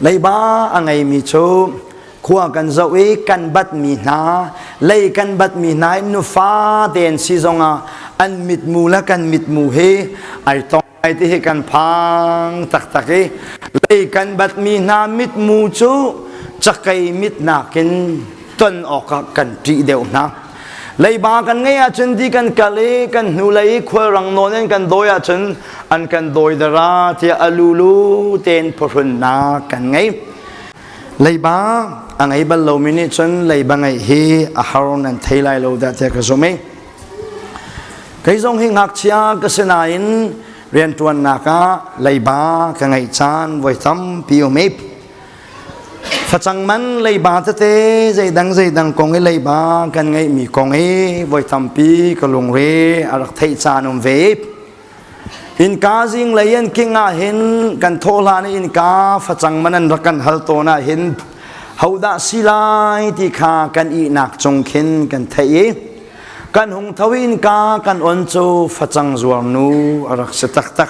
Leiba a ngeimi cu khua kan zoh i kan batmi hna lei kan batmi hna in nufa tein si zongah an mitmu le kan mitmu hi ai tong ai ti hi kan phang taktak i lei kan batmi hna mitmu cu cakei mit nakin ton awkah kan ṭih deuh hna. leiba kan ngei ahcun ti kan kal i kan hnulei khualrang nawn in kan dawi ahcun an kan dawi dara tiah alulu tein phuhrunnak kan ngei leiba a ngei bal lomi nih cun leiba ngeih hi a har nan thei lai lo dah tiah ka zumh i kei zong hi ngakchia ka si nain rianṭuannak ah leiba ka ngeih caan voi tampi um i Facang man leiba tete zeidang zeidang kong i leiba kan ngeihmi kong hi voi tampi ka lungre a rak theih caan um ve. Innka zing lei an king ah hin kan thawhlan i innka facang man an rak kan hal tawn ah hin hodah si lai ti kha kan ihnak cung khin kan theih i kan hung tho innka kan on cu facang zuar nu a rak si taktak.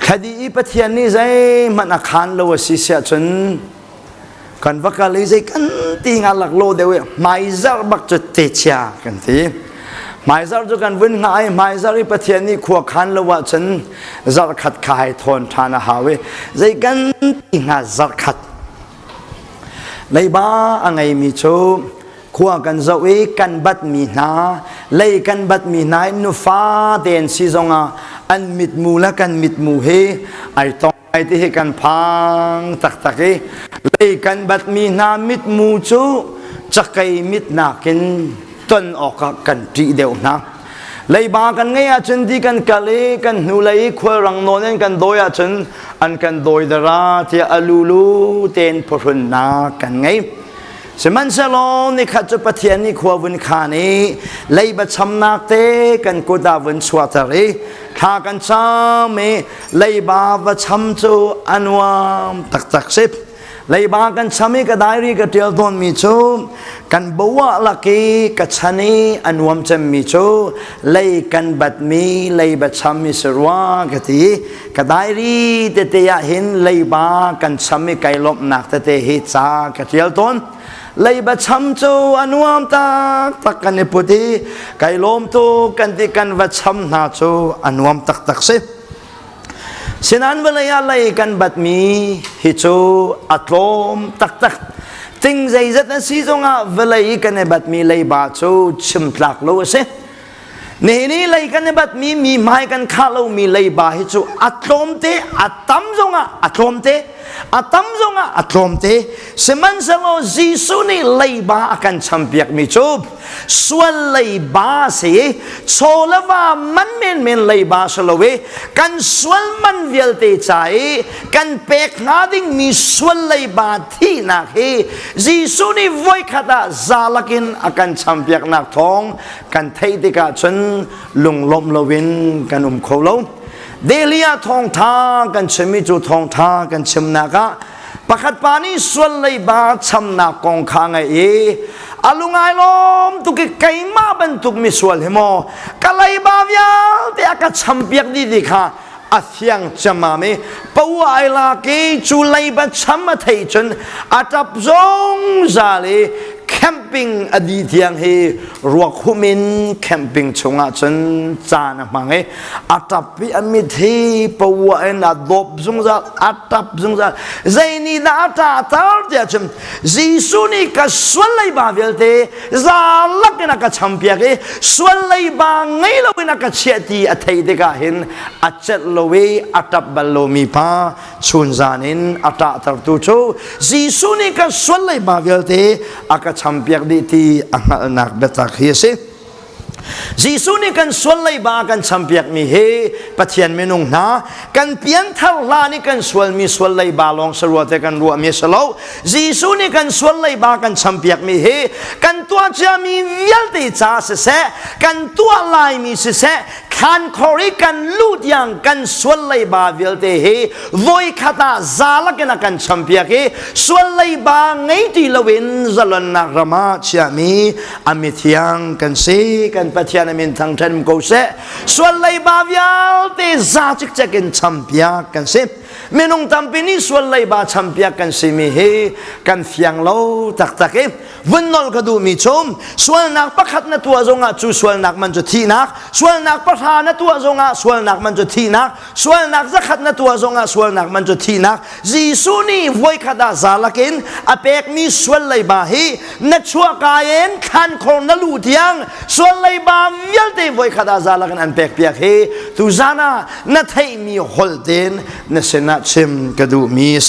Khadi i Pathian nih zeihmanh a khaan lo a si siah cun kan va kal i zei kan ti nga lak lo deuh i hmaizarh bak cu te chia kan ti. Hmaizarh cu kan vun nga i hmaizarh i Pathian nih khua khaan lo ah cun zarh khat kha hai thawn ṭhan a hau i zei kan ti hnga zarh khat Leiba a ngeimi cu khua kan zoh i kan batmi hna lei kan batmi hna in nufa tein si zongah an mitmu le kan mitmu hi ai tong ai ti hi kan phang taktak i lei kan batmi hna mitmu cu cakei mit nakin ton awkah kan ṭih deuh hna. leiba kan ngei ahcun ti kan kal i kan hnulei khualrang nawn in kan dawi ahcun an kan dawi dara tiah alulu ten phuhrunnak kan ngei sihmanhsehlaw nikhat cu pathian nih khua vun khan i leiba chamnak te kan kut ah vun chuahter i thla kan cham i leiba va cham cu a nuam taktak si leiba kan cham i ka diary ka tial tawn mi cu kan bowa lak i ka chan i a nuam cem mi cu lei kan bat mi leiba cham mi si rua ka ti ka diary tete ah hin leiba kan cham i kai lomnak tete hi ca ka tial tawn leiba cham cu a nuam tak tak kan i put i kai lawm tu kan ti kan va cham hna cu a nuam tak tak si Sinan vawlei ah lei kan batmi hi cu a tlawm taktak. Ting zeizat a si zongah vawlei kan i batmi leiba cu chimtlak lo a si. Nihin i lei kan i batmi mi hmai kan khah lomi leiba hi cu a tlawm te, a tam zongah a tlawm te, a tam zongah a tlawm te. Sihmanhsehlaw Jesuh nih leiba a kan champiakmi cu sual leiba si cholava man men men leiba sa lo i kan sual man vialte ca i kan pek hnga dingmi sual leiba thihnak hi Jesuh nih voikhat ah zalakin a kan champiaknak thawng kan theih tikah cun lunglawmh loin kan um kho lo dehliah thawngtha kan chimmi cu thawngtha kan chimnak ah pakhat pa nih sual leiba chamnak kong kha ngei i a lungai lawm tuk i keimah bantuk misual hi maw ka leiba vialte a ka champiak dih ti kha a thiang ciammam i paua ai lak i cu leiba cham a theih cun a tap zungzal i camping a di thiang hi ruakhum in camping chungah cun caan a hmang i a tap i a mit hi pawa in a dawp zungzal a tap zungzal zei ni dah a ta tar tiah cun Jesuh nih ka sual leiba vialte zalak in a ka champiak i sual leiba ngei lo in a ka chiah ti a theih tikah hin a celh lo i a tap bal lomi pa chunzan in a tah tertu cu Jesuh nih kan sual leiba vialte a ka champiak dih ti a hngalhnak biatak hi a si Jesuh nih kan sual leiba a kan champiakmi hi Pathian minung hna kan pianthar hlan i kan sualmi sual leiba lawng sa ruate kan ruahmi a si lo Jesuh nih kan sual leiba kan champiakmi hi kan tuah ciami vialte ca siseh kan tuah laimi siseh thlan khor i kan luh tiang kan sual leiba vialte hi voi khat ah zalakin a kan champiak i sual leiba ngei ti loin zalonnak ram ah chiahmi Amithiang kan si kan Pathian amin thang ṭhen ko seh sual leiba vialte za cikcek in champiak kan si minung tampi nih sual leiba champiak kan simi hi kan fiang lo taktak i vun nol ka duhmi chum sualnak pakhat na tuah zongah cu sualnak man cu thihnak sualnak pahra na tuah zongah sualnak man cu thihnak sualnak zakhat na tuah zongah sualnak man cu thihnak Jesuh nih voikhat ah zalak in a pekmi sual leiba hi na chuahka in khan khor na lu thiang sual leiba vialte voikhat ah zalak in an pekpiak hi tu zan ah na theihmi holten na sinah chim ka duhmi a si